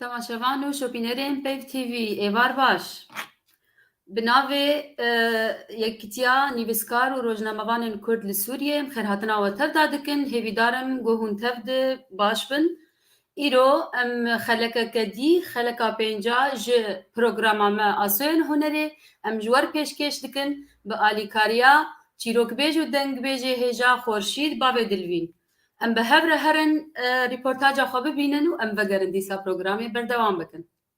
Temaşevan û şopînerên Peyv TV êvar baş. Bi navê e, Yekitiya Nivîskar û Rojnamevanên Kurd li Sûriyê em xêrhatina we tev da dikin. Hêvîdarim ku hûn tev di baş bin. Îro em xelekeke dî, xeleka pênca ji programa me a Soyên Hunerê em ji wer pêşkêş dikin bi alîkariya çîrokbêj û dengbêjê hêja Xorşîd Bavê Dilvîn. Em bi hev re herin rîportaja xwe bibînin û em vegerin dîsa programê berdewam bikin.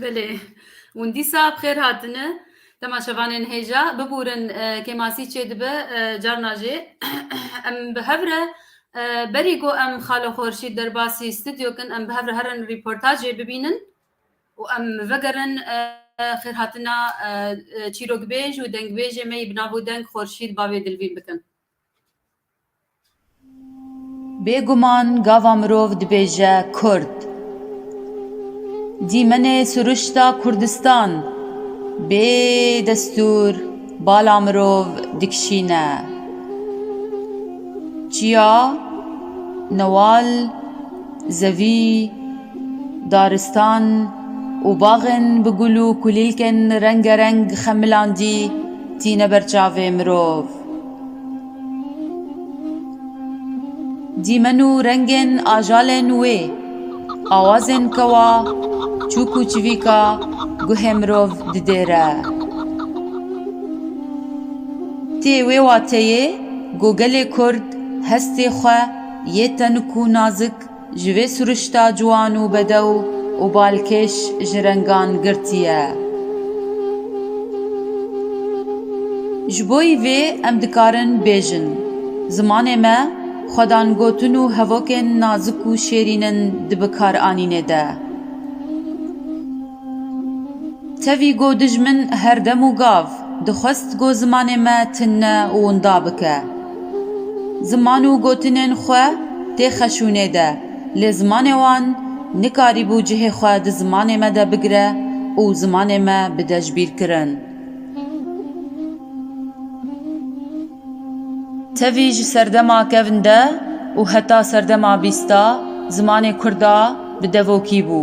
Belê hûn dîsa bi xêr hatine temaşevanên hêja biburin kêmasî çê dibe carna jê em bi hev re berî ku em xalo xorşîd derbasî stûdyo kin em bi hev re herin rîportajê bibînin û em vegerin xêr hatina çîrokbêj û dengbêjê me yî bi navû deng xorşîd bavê dilvîn bikin. Bêguman gava mirov dibêje Kurd. Dîmenê siruşta Kurdistan bê destûr bala mirov dikişîne. Çiya, newal, zevî, daristan û baxên bi gul û kulîlkên rengereng xemilandî tîne ber çavê mirov. Dîmen û rengên ajalên wê, awazên kewa çûk û çivîka guhê mirov didêre. Tê wê wateyê ku gelê Kurd hestê xwe yê tenik û nazik, Ji vê siruşta ciwan û bedew û balkêş ji rengan girtî ye. Ji bo yî vê em dikarin bêjin, Zimanê me xwedan gotin û hevokên nazik û şêrîn in di bikaranînê de. Tevî got dijmin her dem û gav dixwest got zimanê me tune û winda bike. Ziman û gotinên xwe tê xeşûnê de lê zimanê wan nikarîbû cihê xwe di zimanê me de bigire û zimanê me bide ji bîr kirin. Tevî ji serdema kevn de û heta serdema bîsta zimanê kurda bi devokî bû.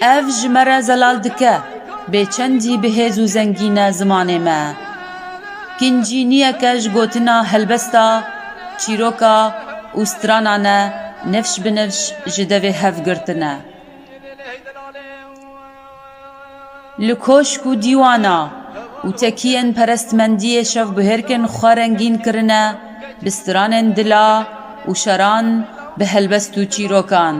Ev ji me re zelal dike bêçendî bi hêz û zengîne zimanê me. Kincîniyeke ji gotina helbesta çîroka û strana ne nifş bi nifş ji devê hev girtine. Li koşk û dîwana û tekiyên perestmendiyê şevbihêrkên xwe rengîn kirine bi stranên dila û şeran bi helbest û çîrokan.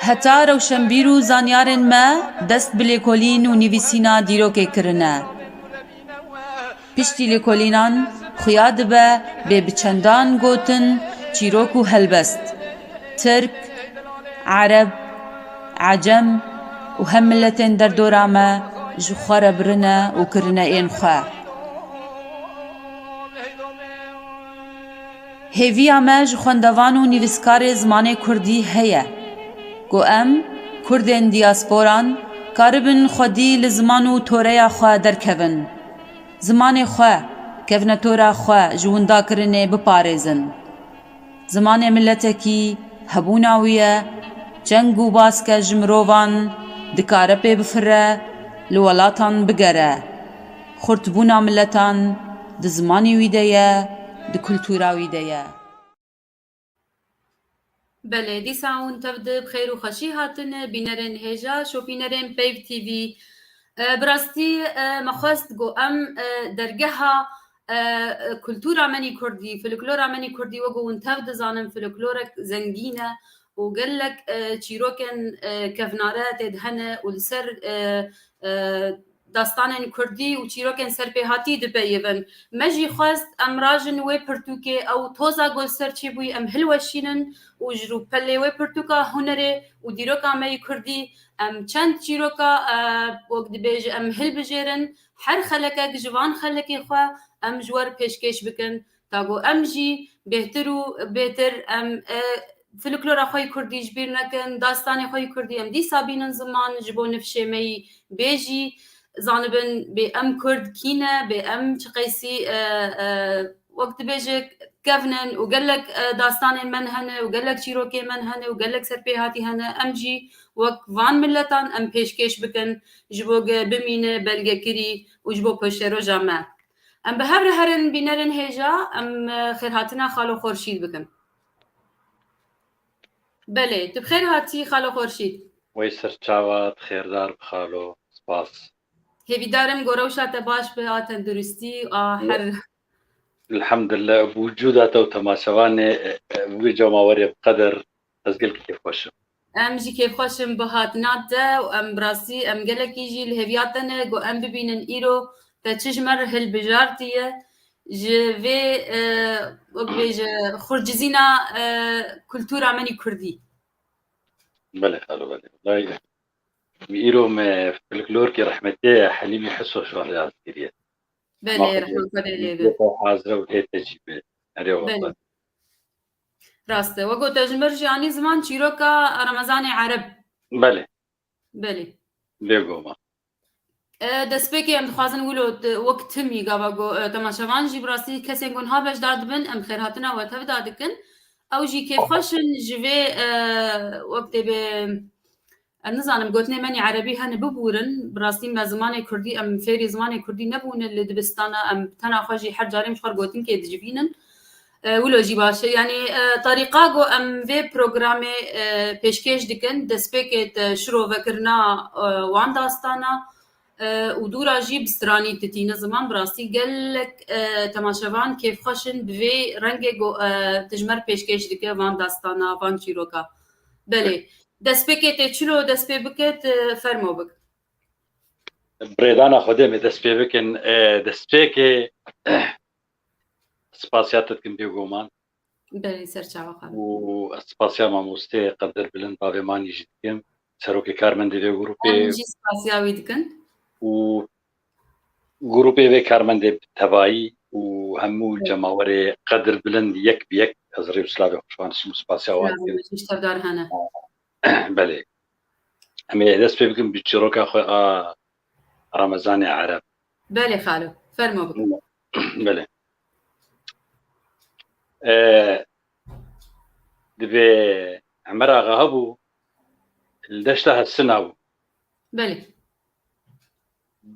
Heta rewşenbîr û zanyarên me dest bi lêkolîn û nivîsîna dîrokê kirine. Piştî lêkolînan xuya dibe bê bi çendan gotin çîrok û helbest. Tirk, Ereb, Ecem û hem miletên derdora me ji xwe re birine û kirine ên xwe. Hêviya me ji xwendevan û nivîskarê zimanê kurdî heye ku em, kurdên diasporan, karibin xwedî li ziman û toreya xwe derkevin, zimanê xwe, kevnetora xwe ji windakirinê biparêzin. Zimanê miletekî, hebûna wî ye, çeng û baske ji mirovan dikare pê bifire, li welatan bigere. Xurtbûna miletan di zimanê wî de ye, di kultura wî de ye. Belê dîsa hûn tev di bi xêr û xweşî hatin bînerên hêja şopînerên Peyv TV. Bi rastî me xwest ku em dergeha kultura menî kurdî, filiklora menî kurdî wek ku hûn tev dizanin filiklorek zengîn e û gelek çîrokên kevnare tê de hene û li ser Destanên kurdî û çîrokên serpêhatî dipeyivin. Me jî xwest em rajin wê pirtûkê ew toza gul ser çêbûyî em hilweşînin û ji rûpelê wê pirtûka hunerê û dîroka me yê kurdî em çend çîroka wek dibêje em hilbijêrin. Her xelekek ji van xelekê xwe em ji wer pêşkêş bikin. Ta ku em jî bêhtir û bêtir em filiklora xwe yî kurdî ji bîr nekin, dastanê xwe yî kurdî em dîsa bînin ziman ji bo nifşê me yî bêjî zanibin bê em kurd kî ne, bê em çi qeysî wek dibêje kevnin û gelek dastanên me hene û gelek çîrokên me hene û gelek serpêhatî hene em jî wek van miletan em pêşkêş bikin ji bo ku bimîne belgekirî û ji bo paşeroja me. Em bi hev re herin bînerin hêja em xêrhatina Xalo Xorşîd bikin. Belê, tu bi xêr hatî Xalo Xorşîd. Wey serçawa tu xêrdar bi Xalo. Spas. Hêvîdar im ku rewşa te baş be a tenduristî û a her. Elhamdulillah bi wicûda te û temaşevanê bi vê cama werê bi qeder Ez gelekî kêfxweş im. Em jî kêfxweş in bi hatina te û em bi rastî em gelekî jî li hêviya te ne ku em bibînin îro te çi ji me re hilbijartiye ji vê wek bêje xurcizîna kultura menî kurdî. Belê xalo belê. Lay wî îro me folklorkê rehmetê Helîmî Hiso şoh yaz kiriye. Belê rehmet xwe lê bê. Hazire û tê te jî bê. Erê wexwe. Rast e. Weko te ji mir jî anî ziman çîroka Remezanê Ereb. Belê. Belê. Bêgoma. E, Destpêkê em dixwazin wilo te- wek timî gava go e, temaşevan jî bi rastî kesên ku niha beşdar dibin em xêrhatina we tevda dikin. Ew jî kêfxweş in ji vê e, wek tê bê Ez nizanim gotinê menî erebî hene biburin bi rastî me zimanê kurdî em fêrî zimanê kurdî nebûne li dibistana em tena xwe jî her carê min ji xwe gotinkê dicivînin wilo jî baş e yanî tarîqa got em vê programê pêşkêş dikin destpêkê te şirove kirina wan dastana û dû ra jî bi stranî titîne ziman, bi rastî gelek temaşevan kêfxweş in bi vê rengê ku Tijmer pêşkêş dike van dastana, van çîroka. Belê, destpêkê tê çilo dest pê bike tu fermo bik. Bi rê dana xwe dê me dest pê bikin. Destpêkê spas ya te dikim bêguman. Belê ser çawa xwe. Û ez spasiya mamostê Qedir Bilind bavê Manî jî dikim. Serokê karmendê vê grûpê. Em jî spasiya wî dikin. Û grûpê vê karmendê bi tevayî û hemû cemawerê Qedir Bilind yek bi yek ez rê û silavê xwe ji wan diçim û spasiya wan dikim. Ji wan tevdar hene. Belê. Em ê dest pê bikin bi çîroka xwe a Remezanê Ereb. Belê xalo. Fermo bikin. Belê. Divê Emer axa hebû li deşta hesina bû. Belê.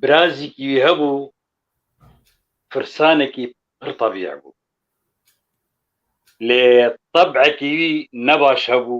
Birazîkî wî hebû firsanekî pir tabîe bû. Lê tebekî wî nebaş hebû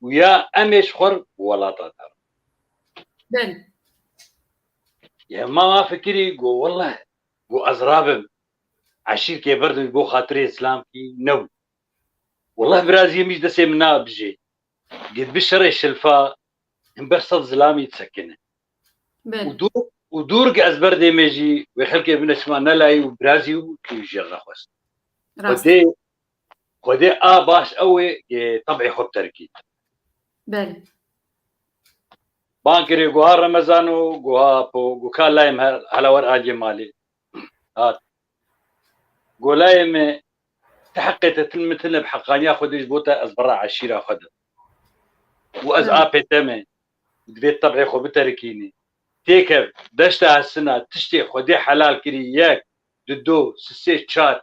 Uya em ê ji xwe re welata te re bin. Yê ma ma fikirî got welleh got ez rabim eşîr kê berdim ji bo xatirê îslam kî nebû. Welleh biraziyê min jî destê min na bijê got bi şerê şilfa hin ber sed zilamî sekine. Bin. Û dûr ke ez ber dê me jî wê xelkê bine çima ne layî û birazî û tu jî jê re nexwest. Rast. Xwedê Xwedê a baş ew ê kê tem'ê xwe bi terkî. Belê. Ban kirê goha remezan û goha apo goka layê me hela wer aciye malê. Hat. Golayê me ti heqê te tin min tine bi heqaniya xwedê ji bo te ez birra eşîra xwe de. Û ez apê te me divê tem'ê xwe biterikînî. Têkev, deşta hesina tiştê xwedê helal kirî yek, di do, si sê, çar,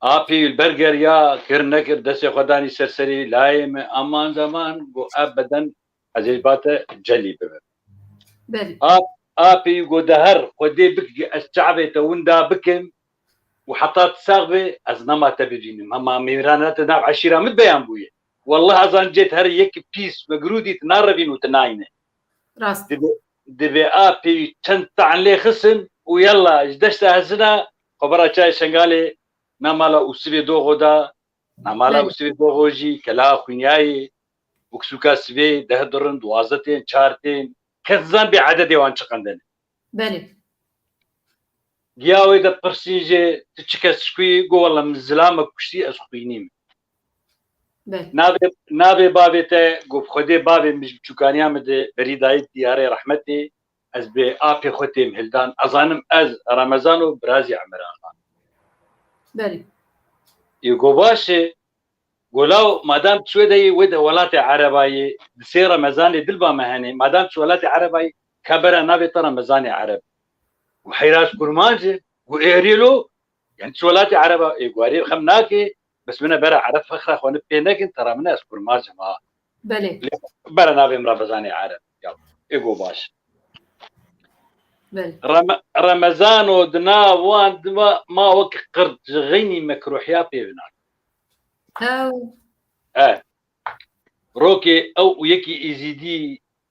Apî li ber geriya kir nekir destê xwe danî ser serî layê me aman zeman got ev beden ezê ba te celî bibim. Apî got di her xwedê bikijî ez çavê te winda bikim û heta tu sax bî ez nema te bibînim hema mêrana te nav eşîra min beyan bûye. Welleh ez an cê di her yek pîs ve girûdî tu narevîn û tu nayne. Rast. Divê a pêwî çend ta'n lê xistin û yella ji deşta hezina xwebera çayê Şengalê na mala û sivê doxo da. Na mala û sivê doxo jî kelaha xwîniyayê û kisûka sivê deh dirin, duwazdeh tên, çar tên, kes dizan bê ededê wan çi qende ne. Belê. Giya wê de pirsîn jê tu çi kes tişkuyî, go wella min zilamek kuştî ez xwînîme. Navê navê bavê te ku bi xwedê bavê min ji biçûkaniya min de berî dayîk diyarê rehmetê ez bi apê xwe têm hildan ez zanim ez remezan û birazî emeran a. Berî. Yê ku baş e ku law madam tu Swêdeyê wê de welatê erebayê di sê remezanê dil ba me henê madam tu welatê erebayê ke bera navê te remezanê ereb û heyras kurmanc e ku êrî lo yani tu welatê ereba ê ku erê xem nake Bes min e bera ereb fexra xwe ni pê nekin tera min ez kurmarcim ha. Belê. Bera navê min ra bezanê ereb. Ya ego baş. Belê. Reme, remezan o dina wan dima ma wek qırt jığini mekruhiya pê binak. Ew. E. Roki ew u yeki izidi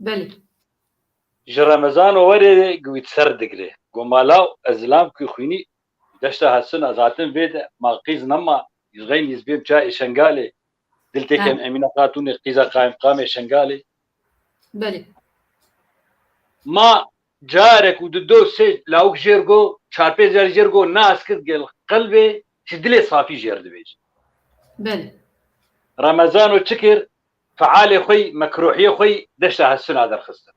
Belê. Ji remezano werê giwît ser digrê. Got mala ezilam ku xwînî deşta hesin ez hatim vê de ma qîz nema xeyn lîz bêm çayê şengalê dil tê kem Emîne Xatûnê qîza qayimqamê şengalê. Belê. Ma carek û di do sê lawik jêr go çar pênc carî jêr go na ez kir gel qelbê ji dilê safî jêr dibêjim. Belê. Remezano çi kir? Fealê xwe yî, mekruhiyê xwe yî deşta hesina derxistin.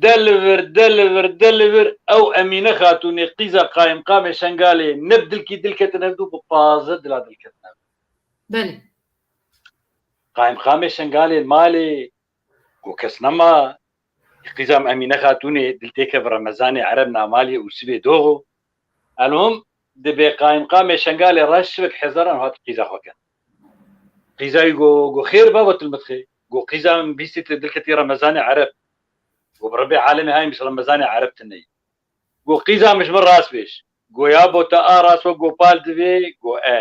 De li vir, de li vir, de li vir ew Emîne Xatûnê qîza qayimqamê Şengalê ne bi dilkî dil ketin hev dû, bi pazdeh dila dil ketin hev. Belê. Qayimqamê Şengalê malê ku kes nema, Xizam Emîne Xatûnê diltêkev Remezanê Ereb Namalî û sibê dox û Elhom dibê Qayimqamê Şengalê re şivek hezaran hat qîza xwe kin. Qîzayî go go xêr baba tilmitxê go qîza min bîstî ti dilketî Remezanê Ereb go bi Rebê Alemê hay min ji Remezanê Ereb tineyî go qîza min ji min rast bêj go ya bo te a rast we gopal divê go e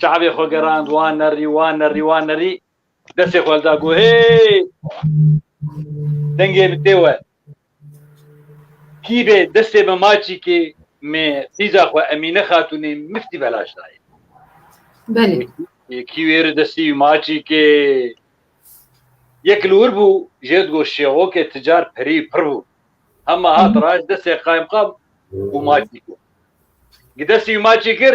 Çavê xwe gerand wa nerî wa nerî wa nerî destê xwe li da got hê dengê bi tê we kîbê destê me maçî kê mê qîza xwe Emîne Xatûnê miftî belaş dayê. Belê. Yekî wê ri destî wî maçî kê yek li wir bû jê digot şêxokê ticar perî pir bû. Hema hat raj destê qayimqam û maçî kir. Gi destî wî maçî kir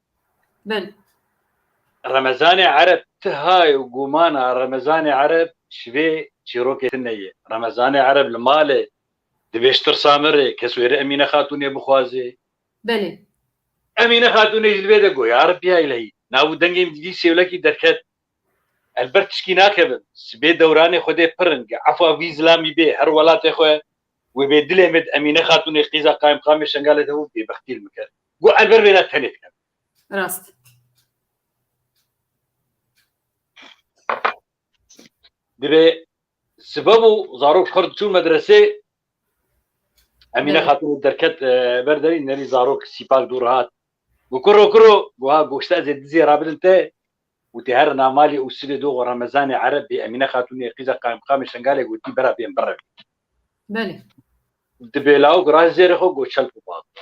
Bin. Remezanê Ereb tihay û gûmana Remezanê Ereb ji vê çîrokê tune ye. Remezanê Ereb li malê divê ji tirsa mirê kes wêrê Emîne Xatûnê bixwazê. Belê. Emîne Xatûnê jî li vê de got, Ya Rebbi ya Îlahî, nav û dengê min didî sêwlekî derket. Elbert tişkî nakevin. Sibê dewranê xwe dê pir in, ge efwa vî zilamî bê, her welatê xwe Wê bê dilê min Emîne Xatûnê qîza Qayimqamê Şengalê de bû bêbextî li min kir. Got ez ber vê ne tenê dikim. Rast. Divê sibab û zarok xurt çûn medresê Emîne Xatûnê derket ber derî nerî zarok sîpal dûr hat Gu kuro kuro guha goşta ez ê dizê rabidin te û tê herin a malê û sibê doxo remezanê ereb bê Emîne Xatûnê qîza qayimqamê Şengalê gotî bera bên birevî. Belê. Di bêlawik raşt zêrê xo got çelp û baz ba.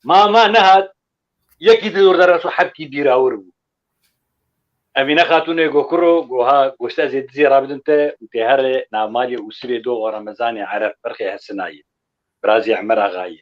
Ma ma nehat yekî di dordera xo hebkî bîrawir bû. Emîne Xatûnê gu kuro guha goşta ez ê dizê rabidin te û tê herê na malê û sibê doxo remezanê ereb birxê hesinayê. Birazê Emer Axayê.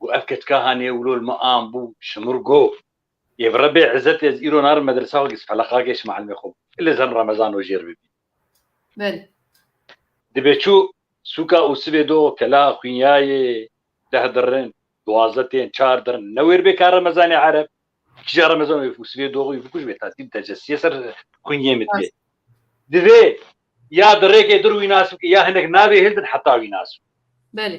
Got ev keçka hanê wilo li me an bû Şimur got Yê bi rebê îzzetê ez îro narim medresa xwe kes feleqa geş mielmê xwe bû ilê zen remezan o jêr bibî. Belê. Dibê çû sûka û sibê do kela xwînyayê deh dirin duwaze tên çar dirin ne wêr bê ka remezanê ereb kija remezan o û sibê do û bikujibê tatîl tecesiyê ser xwînyê min dibê. Divê ya di rêkê dir wî nas bikî ya hinek nabê hêl din heta wî nas bikî. Belê.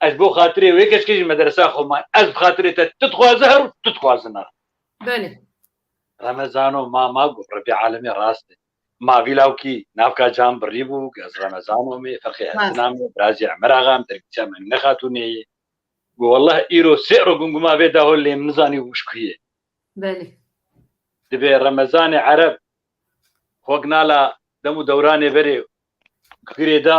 Ez bo xatirê wê keske jî medreseya xwe man. Ez bi xatirê te tu dixwaze her û tu dixwazin her. Belê. Remezano mama got Rebî Alemî rast e. Ma vî lawkî navka can birrî bû ke ez Remezano me, Ferqê Hesina me, Birazê Emer Axa me, Dergîsa Memîne Xatûnê ye. Got Wallah îro sê roj gumguma vê dahol lê min nizanî wişk ku ye. Belê. Dibe Remezanê Ereb xwe ginala dem û dewranê verê girê da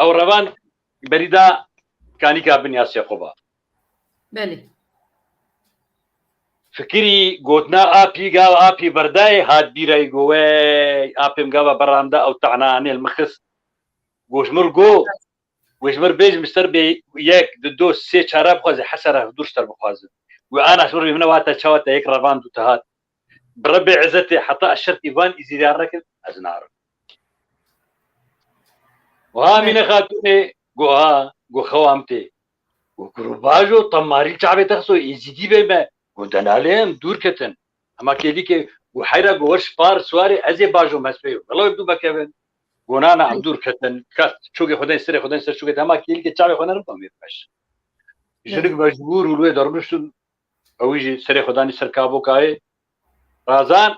Ew revan berîda kanîka bin ya Sêxoba. Belê. Fikirî gotina apî gav apî berdayê hat bîrayî go wey apêm gava beramda ew tana anê li min xist. Gojmir go Gojmir bêj min ser bê yek di do sê çare bixwazê hesera hevdûr ji te bixwazin. Wê ana şûr bê min wate çawa te yek revan dû te hat Bi Rebê Îzzetê heta ez şertî van îzîdar nekin ez narim. Wiha Emîne Xatûnê goha got xewa min tê. Got ku rû baş o tam marî çavê te xist û Êzîdî bê me. Got delalê em dûr ketin. Hema kêlîkê got heyra got weş par siwarê ez ê baş im ez pey vela wê bi dû me kevin. Got na na em dûr ketin keft çûkê xwe deyn serê xwe deyn ser çûkê te hema kêlîkê çavê xwe nerim tam ê bimeşin. Jinik mecbûr û li wê de rûniştin Ewî jî serê xwe danî ser kabokayê. Razan,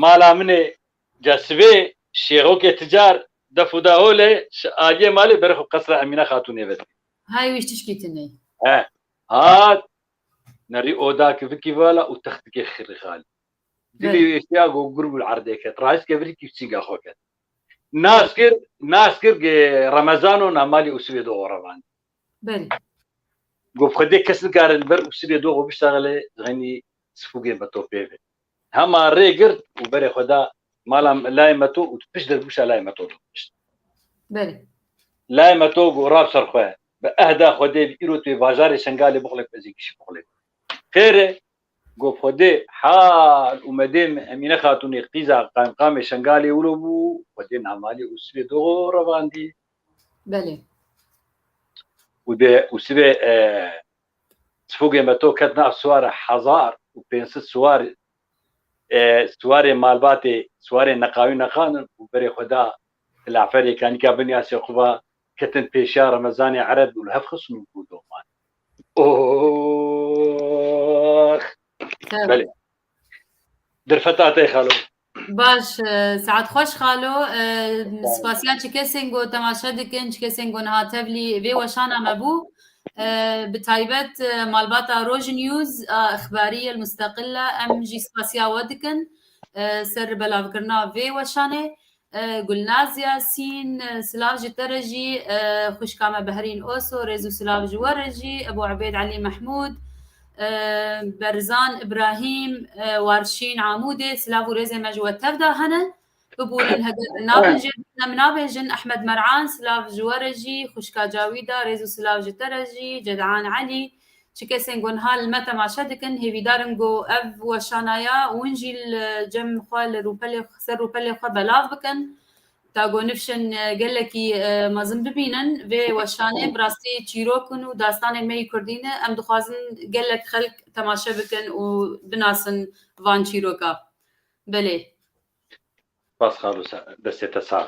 mala min e. Cesivê, şêxokê ticar, def û dahol e, ji aliyê malê berê xwe qesra Emîne Xatûnê ve dikin. Hay wî ji tişkî tune. He, hat. Nerî oda kivikî vala û textikê xirî xalî. Dilê wî êşiya ku gur bû li erdê ket. Rahist kevirî kîvçînga xwe ket. Nas kir, nas kir ku Remezan o na malê Usivê dû xwe revandî. Belê. Got xwedê kes nikarin ber û sibê dox û biştaxile henî sifûgê me to pê ve. Hema rê girt û berê xwe da mala layê me to û tu pişt derbûşa layê me to donişt. Belê. Layê me to got rab ser xwe bi ehda xwedê bi îro tu yê bajarê Şengalê bixulek ez ê kişî bixulek. Xêr e? Got xwedê hal û medê min Emîne Xatûnê qîza qayimqamê Şengalê wilo bû xwedê namalî û sibê dox revandî Belê. Û dê û sibê sifogê me to ket nav siwara hezar û pênc sed siwar siwarê malbatê siwarê neqawî neqanin û berê xwe da tilaferê kanîka binyasê xwe va ketin pêşiya remezanê ereb û li hev xism û doman. Oh! Belê. Derfeta te xalo. Baş e, saet xweş xalo. E, Spasiya çi kesên ku temaşe dikin, çi kesên ku niha tevlî vê weşana me bû. E, Bi taybet e, malbata Roj News a ixbarî El Mustaqil a em jî spasiya we dikin e, ser belavkirina vê weşanê. Gulnazya Sîn silav ji te re jî xwişka me Behrîn Oso rêz û silav ji we re jî Ebû Ebêd Elî Mehmûd Berzan Îbrahîm Warşîn Amûdê silav û rêzên me ji we tev de hene bibûrin heger nabin jê bibin em nabê jin Ehmed Mer'an silav ji we re jî xwişka Cawîda rêz û silav ji te re jî Ced'an Elî Çi kesên ku niha li me temaşe dikin hêvîdar in ku ev weşana ya û hûn jî li cem xwe li rûpelê ser rûpelê xwe belav bikin ta ku nifşên gelekî mezin bibînin vê weşanê bi rastî çîrok in û dastanên me yî kurdî ne em dixwazin gelek xelk temaşe bikin û binasin van çîroka belê. Spas xalo destê te sax.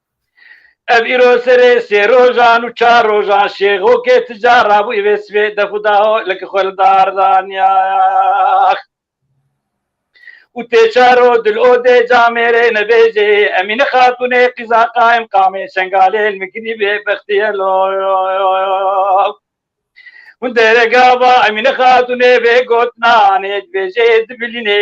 Ev îro serê sê rojan û çar rojan şêxokê ti car rabû î vê sivê def û daho leke xwe li dar daniya yax û tê çaro dil odê camêrê nebêjê Emîne Xatûnê qîza qayimqamê Şengalê li min kirîbê bextiyê lo hûn deregava Emîne Xatûnê vê gotinanê dibêjê dibilînê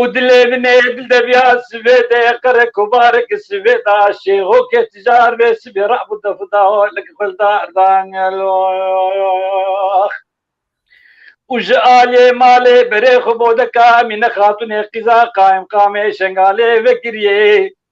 û dilê min ê dil de viya Swêdê qere ku bareke Swêda şêhokê tijar bê sibê ra bû defu da holeke xwe li dar da Ngelox û ji aliyê malê berê xwe bodeka Emîne Xatunê qîza qayimqamê Şengalê vekiriye.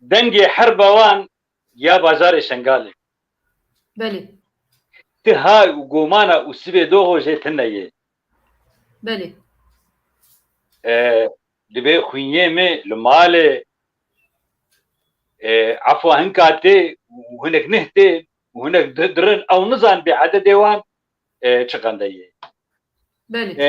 Dengê her bawan ya bajarê Şengalê. Belê. Ti hay û gomana û sibê doho jê tine yê. Belê. E, dibê xwînyê mi li malê e, efwa hin katê û hinek nih tê û hinek dirin ew nizan bê ededê wan e, çi qende yê. Belê. E,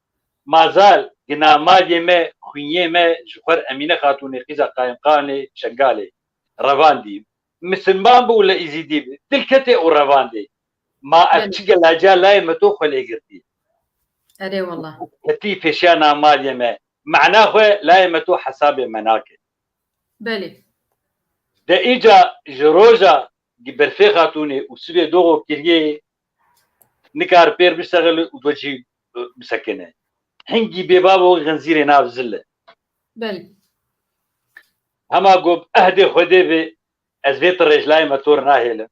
Mazal gina malê me xwînyê me ji xwer Emîne Xatûnê qîza Qayimqanê Şengalê revandî. Misilman bi û li Îzîdî bi dil ketê û revandê. Ma ev çi gelaciya layê me to xwe lê girtî. Erê wala. Ketî pêşiya na malê me. Mana xwe layê me to hesabê me nake. Belê. De îca ji roja gi Berfê Xatûnê û sibê doxo kiriyê nikar pêr bişexilin û to cî bisekine. Hingî bêbabo xinzîrê nav zil e. Belê. Hema gob ehdê xwedê vê ez vê tirêjlayê me tor nahêlim.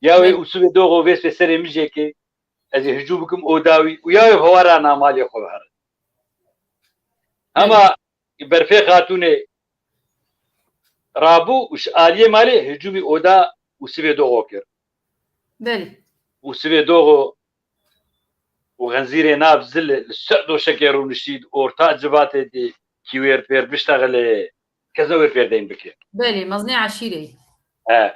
Ya wê û sibê doxo vês vê serê min jêkê ez ê hicû bikim oda wî û ya wê hewara na malê xwe biherin. Hema Berfê Xatûnê rabû û ji aliyê malê hicûmî oda û sivê doxo kir. Belê. Û sivê doxo û xenzîrê nav zil li ser doşekê rûniştî di orta civatê de kî wêr pêr biştexile kes ne wêr pêr deyn bike. Belê, meznê eşîrê. He.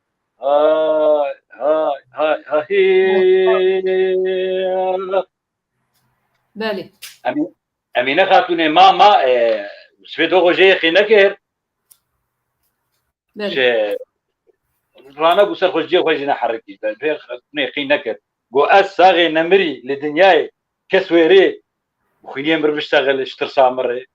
Hay hay hay hay. Belê. Emî- Emîne Xatûnê ma ma e, sibê do rojeyê xê nekir. Belê. Şe rana ku ser xwe ji cihê xwe jî neherikî. Be- Bê xatûnê xî nekir. Got ez saxê nemirî li dinyayê kes wêrê xwîniyê mir biştexe li ji tirsa min rê.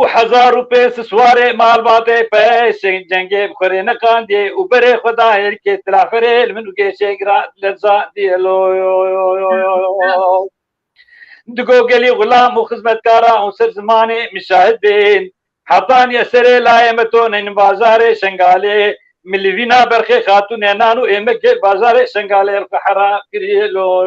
û hezar û pênc sed swarê malbatê peşên cengê bi xwe rê neqandiye û berê xwe da hêrkê Tilaferê li min û gêşê gira levzandiye lov. Di gogelî xulam û xizmetkaran û ser zimanê min şahid bên. Hetaniye serê layê me toneynin bajarê Şengalê. Min li vîna berxê xatûnê nan û êmek yek bajarê Şengalê li xwe hera kiriye lov.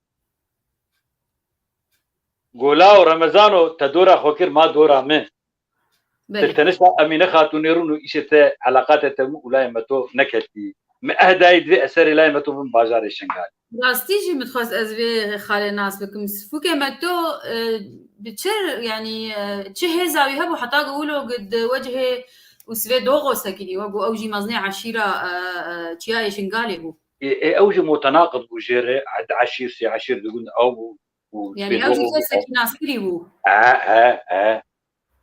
Gola û Remezano te dora xwe kir ma dora min. Ti tenişta Emîne Xatûnê rûn û îşê te eleqatê te min û layê me to neketî. Min eh dayî divê ez serê layê me to bibim bajarê Şengalê. Rastî jî min dixwest ez vê xalê nas bikim. Sifûkê me to bi çi yanî çi hêza wî hebû heta ku wilo di we cihê û sivê doxo sekinî wek ku ew jî mezinê eşîra Çiyayê Şingalê bû. Ê ew jî mutenaqid bû jê re, di eşîr sê eşîr di gund ew bû û Yani ew jî kesekî naskirî bû. He he he.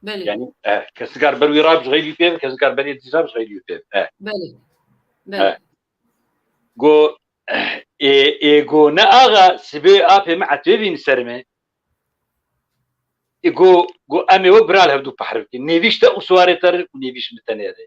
Belê. Yani he kes nikar ber wî re ji xeylî pê ve, kes nikar berê dîsa ji xeylî pê ve. He. Belê. Belê. Go ê ê go ne axa sibê apê min etê vîn ser me. Ê go go em ê we bira li hev dû pehrev kî. Nêvîş te û suarê te re û nêvîş min te nêre.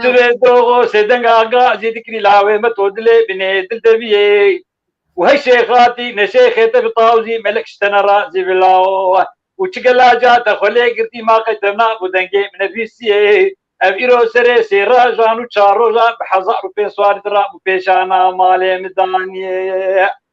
Sivê dogo sêdenga aga jê dikirî lawê me to dilê binê dil de biyê û hey şêxatî neşêxê te bi taw zî melek ji tena ra zî bi law û çi gela ca te xwe lê girtî ma qey te na bi dengê min nebîsiyê ev îro serê sê rajan û çar rojan bi hezar û pênc swarî te ra bi pêşana malê min daniyê.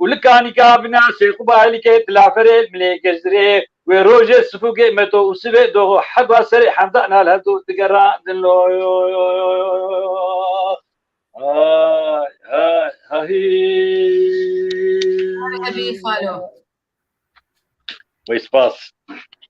Û li kanîka bina Sêkubailîkê Tilaferê li Milê Gezirê wê rojê sifûkê meto û sivê doxo heba serê hemda nal hevdo digera din loyo.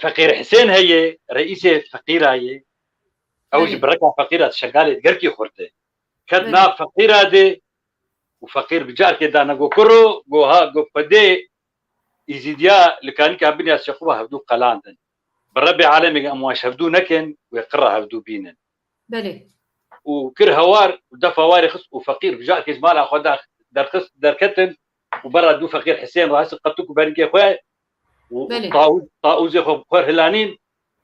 Feqîr Hisên heye reîsê feqîra ye. Ew ji bireka feqîra di Şengalê di Gerkî xurte. Ket nav feqîra de û feqîr bi carkê da ne go kur o go ha go xwedê Îzîdiya li kanîka binê ya Sêxûba hevdû qelandin. Bi Rebê Alemê em wan şevdû nekin wê qira hevdû bînin. Belê. Û kir hawar û defa warê xist û feqîr bi carkê ji mala xwe da derxist derketin û berra dû feqîr Hisên re hesin qetuk û berîkê xwe û taûzê xwe bi xwer hilanîn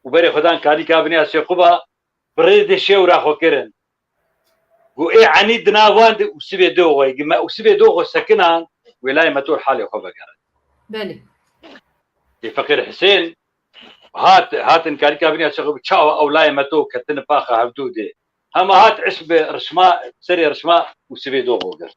û berê xwe dan Kadî Kaviniya Sêquba bi rê dê şêwra xwe kirin. Gu ê enî di nav wan de Usivê Doxo ye. Gi me Usivê Doxo sekinan wê layê me tor halê xwe vegerin. Belê. Dê feqîr Hisên hat hatin Kadî Kaviniya Sêquba çawa ew layê me to ketine paxa hevdû dê. Hema hat isbi rişma serê rişma Usivê Doxo girt.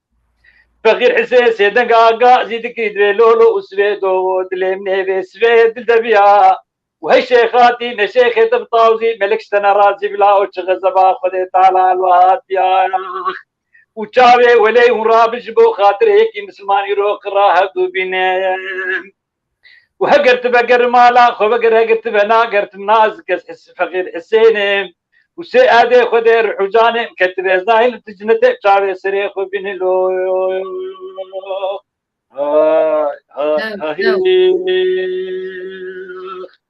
Fexîr Hise sêde ga ga zî dikî divê lolo û sivê do dilê min ê vê sivê dil de biya û hey şêxatî ne şêxê te bi taw zî melik ji te ne razî bila û çi xezeba Xwedê Teala li we hatiya ax û çavê weley hûn rabin ji bo xatirê yekî misilmanî ro qira hevdû bîne. û heger tu vegerî mala xwe vegere heger tu vena ger tu min azik ez Feqîr Hisên im û sê edê xwe dê ruh û canê min ketibî ez nayê li tu cinetê çavê serê xwe bînî loh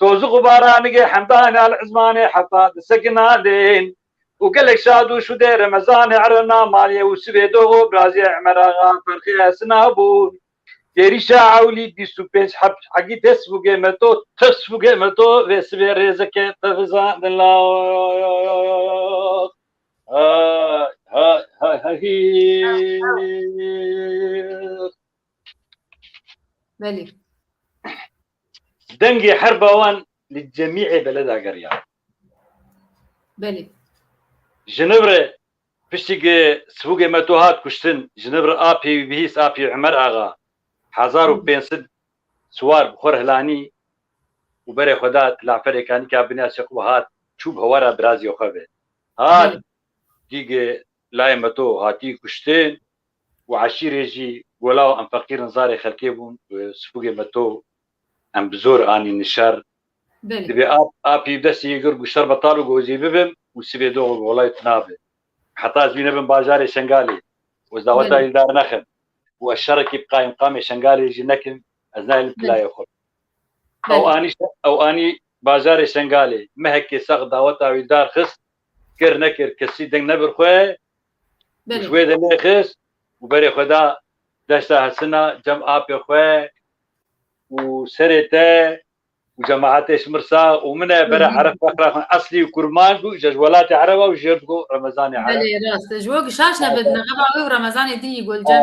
Tozix û Baranigê hemdane al ezmanê heta di seki nadên û gelek şad û şûdê remezanê erena malê û sibê dox û birazê Emer Axa Ferxê Esina bûn. Êrîşa ewlî bîst û pênc heb hegî dê sibûgê meto. Tev sibûgê meto vê sibê rêzeke tevizandin lax. Hay hay hay hîx. Belê. Dengê herba wan li cemîê beleda geriya. Belê. Ji nir re piştî ku Sivûgê Meto hat kuştin ji nir re apê wî bihîst apê Umer Axa hezar û pênc sed siwar bi xwe re hilanî û berê xwe da Tilaferê Kanika biniya Şeqû ve hat çû bi hewara birazê xwe ve hat dî ku layê Meto hatî kuştin û eşîrê jî gola û em feqîr in zarê xelkê bûn û sifûgê me to em bi zor anîn li şer. Dibê a pîv destê yê girg û şer betal û gozî bibim û sibê dox û golayê tina be. Heta ez wî nebim bajarê Şengalê û ez daweta wî li dar nexim û ez şerekî bi qayîmqamê Şengalê jî nekim ez nayêlim pilayê xwe. Ew anî bajarê Şengalê. Mehekê sax daweta wî li dar xist. Kir nekir kesî deng nebir xwe Belê. Şwê de nêxist û berê xwe da deşta hesina cem apê xwe û serê te û cemaetê şmirsa û min e bere eref feqra xwe eslî kurmanc bû ji welatê ereba û jêr digo remezanê eref. Belê rast. Ji wek şaş ne bedine xeba wê û remezanê din yî gol cem.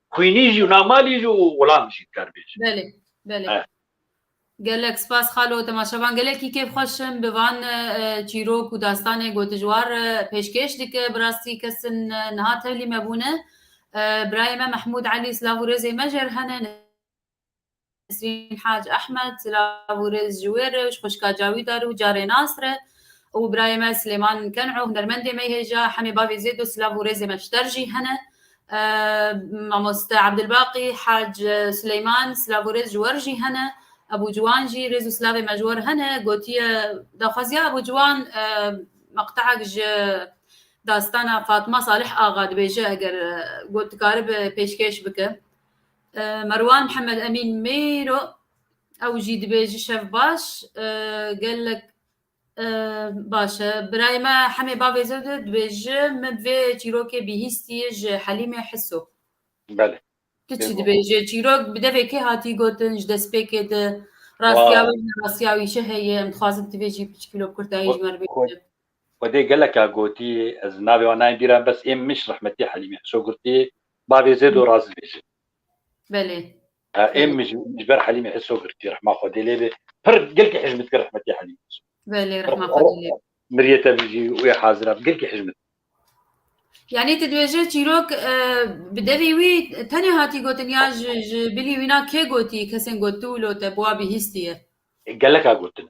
Xwînî jî û namalî jî û wilam jî dikar bêje. Belê, belê. Gelek spas xalo temaşevan gelekî kêf xweş in bi van çîrok û dastanê gotijwar pêşkêş dike. Bi rastî kesin niha tevlî me bûne. Birayê me Mehmûd Elî silav û rêzê me jêr hene. Nesrîn Hac Ehmed, Zilavorêz ji wê re, ji xwişka Cawîda re û carê nas re û birayê me Silêman Ken'u hunermendê me yê hêja, hemê bavê zêd û silavorêzê me ji der jî hene. Mamoste Abdulbaqî Hac Suleyman, silavorêz ji wer jî hene. Ebû Ciwan jî rêz û silavê me ji wer hene. Gotiye, daxwaziya Ebû Ciwan meqtehek ji dastana Fatma Salih Axa dibêje eger got dikaribe pêşkêş bike. Merwan Mihemed Emîn Mêro ew jî dibêje şev baş gelek baş e. Birayê me Hemê Bavêzo de dibêje min vê çîrokê bihîstiye ji Helîmê Hiso. Belê. Tu çi dibêje çîrok bi devê kê hatî gotin ji destpêkê de rastiya wê rastiya wî şe heye em dixwazin tu vê jî piçkîlok kurtayî ji ber bêje. Xwedê geleka gotiyê ez navê wan nayêm bîra bes ê mij rehmetî Helîmê qişo girtiyê bavê zêr do razi bêje. Belê. Ê mij ji ber Helîmê Hiso girtî rehma Xwedê lê bê pir gelkî hijmet kir rehmetî Helîmê Hiso. Belê rehma Xwedê lê bê. Miriyê te bijî û wê hazira bi gelkî hijmet kir. Yanî tu dibêje çîrok bi devî wî tenê hatî gotin ya ji bilî wîna kê gotî kesên got tu wilo te bi wa bihîstî ye? Geleka gotin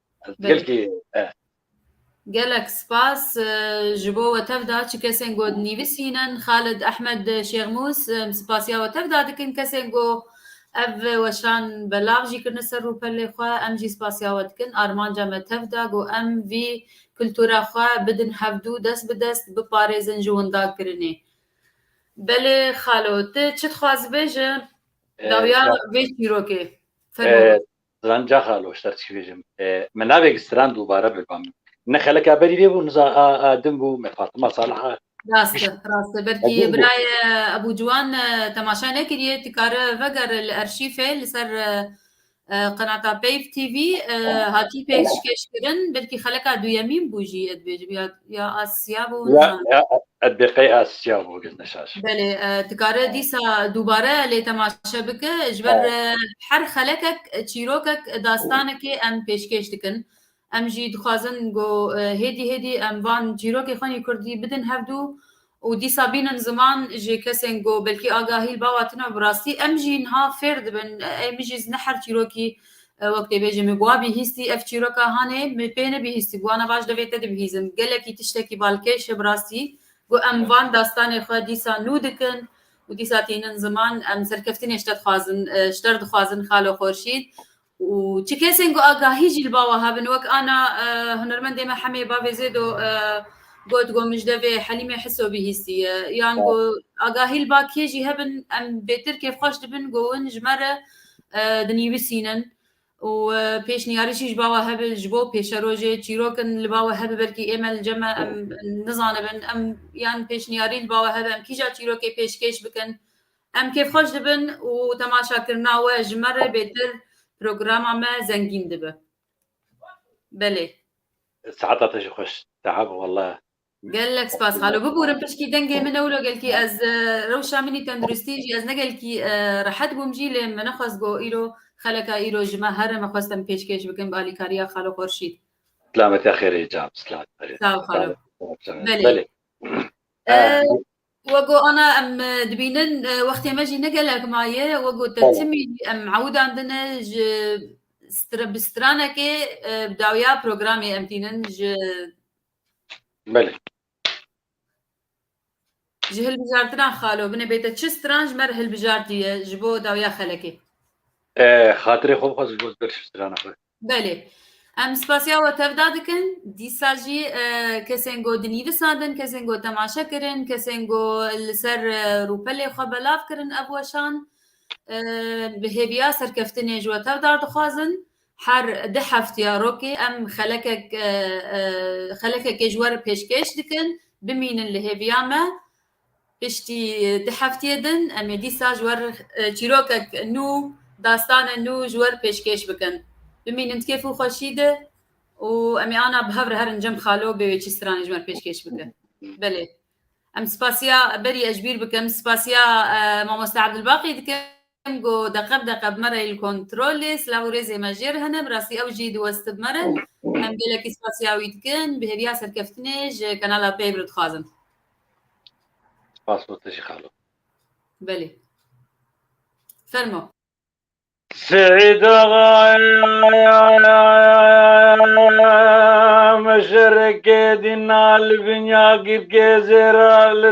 Gelkî e. Gelek spas ji bo we tevda çi kesên ku nîvis hînin Xalid Ehmed Şêxmûs spasiya we tevda dikin kesên ku ev weşan belav jî kirine ser rûpelê xwe em jî spasiya we dikin armanca me tevda ku em vî kultura xwe bidin hevdû dest bi dest biparêzin ji winda kirinê. Belê xalo tu çi dixwazibê ji dawiya vê çîrokê? Ziran caxa lo şter çivêjim. Me navek ziran dubare bi bam. Ne xeleka berî vê bû niza a a din bû me Fatima Salaha. Rast e, rast e. Belkî birayê Ebû Ciwan temaşay nekiriye, dikare vegere li erşîfê li ser qenata Peyv TV hatî pêşkêşkirin. Belkî xeleka duyemîn bû jî ez dibêjim ya Ya Asya bû. Ya ez deqê Asya bû giz neşaş. Belê dikare dîsa dubare lê temaşe bike ji ber her xelekek çîrokek dastanekê em pêşkêş dikin. Em jî dixwazin ku hêdî hêdî em van çîrokê xwenî kurdî bidin hevdû Û dîsa bînin ziman ji kesên ku belkî agahî li bawa tune bi rastî em jî niha fêr dibin. Ê min jî ez ne her çîrokî wek tê bêjin min bi wa bihîstî ev çîroka hanê min pê nebihîstî bi wana baş divê te dibihîzin. Gelekî tiştekî balkêş e bi rastî ku em van dastanê xwe dîsa nû dikin û dîsa tînin ziman em serkeftinê ji te dixwazin ji te re dixwazin xalo Xorşîd Û çi kesên ku agahî jî li ba wiha bin wek ana hunermendê me Hemê Bavê Zêdo got got min ji devê Helîmê Hiso bihîstiye yan ku agahî li ba kê jî hebin em bêtir kêfxweş dibin ku hûn ji me re dinîvisînin û pêşniyarî jî ji ba we hebe ji bo pêşerojê çîrokin li ba we hebe belkî ê me li cem e em nizanibin em yan pêşniyarî li ba we hebe em kîja çîrokê pêşkêş bikin Em kêfxweş dibin û temaşakirina we ji me re bêtir programa me zengîn dibe. Belê. Saeta te jî xweş Team walla. Gelek spas xalo. Biburim pişkî dengê min ewlo gelkî ez rewşa min î tenduristî jî ez ne gelkî rehet bûm jî lê me nexwest got îro xeleka îro ji me here me xwest em pêşkêş bikin bi alîkariya xalo Xurşîd. Silamete xêrê can. Silamete xêrê. Sağ ol xalo. Belê. Wego ana em dibînin wextê me jî ne gelek maye wego te timî em ewdan dine ji bi stranekê bi dawiya programê em tînin ji Belê. Ji hilbijartina xalo binê bê te çi stran ji me re hilbijartiye ji bo dawiya xelekê. Xatirê xwe bixwaz ji bo ber strana xwe. Belê. Em spasiya we tevda dikin. Dîsa jî kesên ku dinîvisa din, kesên ku temaşe kirin, kesên ku li ser rûpelê xwe belav kirin ev weşan bi hêviya serkeftinê ji we tevdar dixwazin. Her di heftiya rokê em xelekek xelekekê ji we re pêşkêş dikin bimînin li hêviya me. Piştî du heftiyê din em ê dîsa ji wer çîrokek nû, dastane nû ji wer pêşkêş bikin. Bimînin ti kêf û xweşî di û em ê ana bi hev re herin Cem Xalo bê wê çi stranê ji wer pêşkêş bike. Belê. Em spasiya berî ez ji bîr bikim, spasiya mamoste Ebdulbaqî dikim. em ku deqeb deqeb me re li kontrolê, silav û rêzê me jê re hene, bi rastî ew jî diwestib me re. Em gelekî spasiya wî dikin, bi hêviya serkeftinê ji kanala pey bi re dixwazin. Spas bo te jî xalo. Belê. Fermo. Seîd axa me şerekê dîna li vinya gîrkê zêra li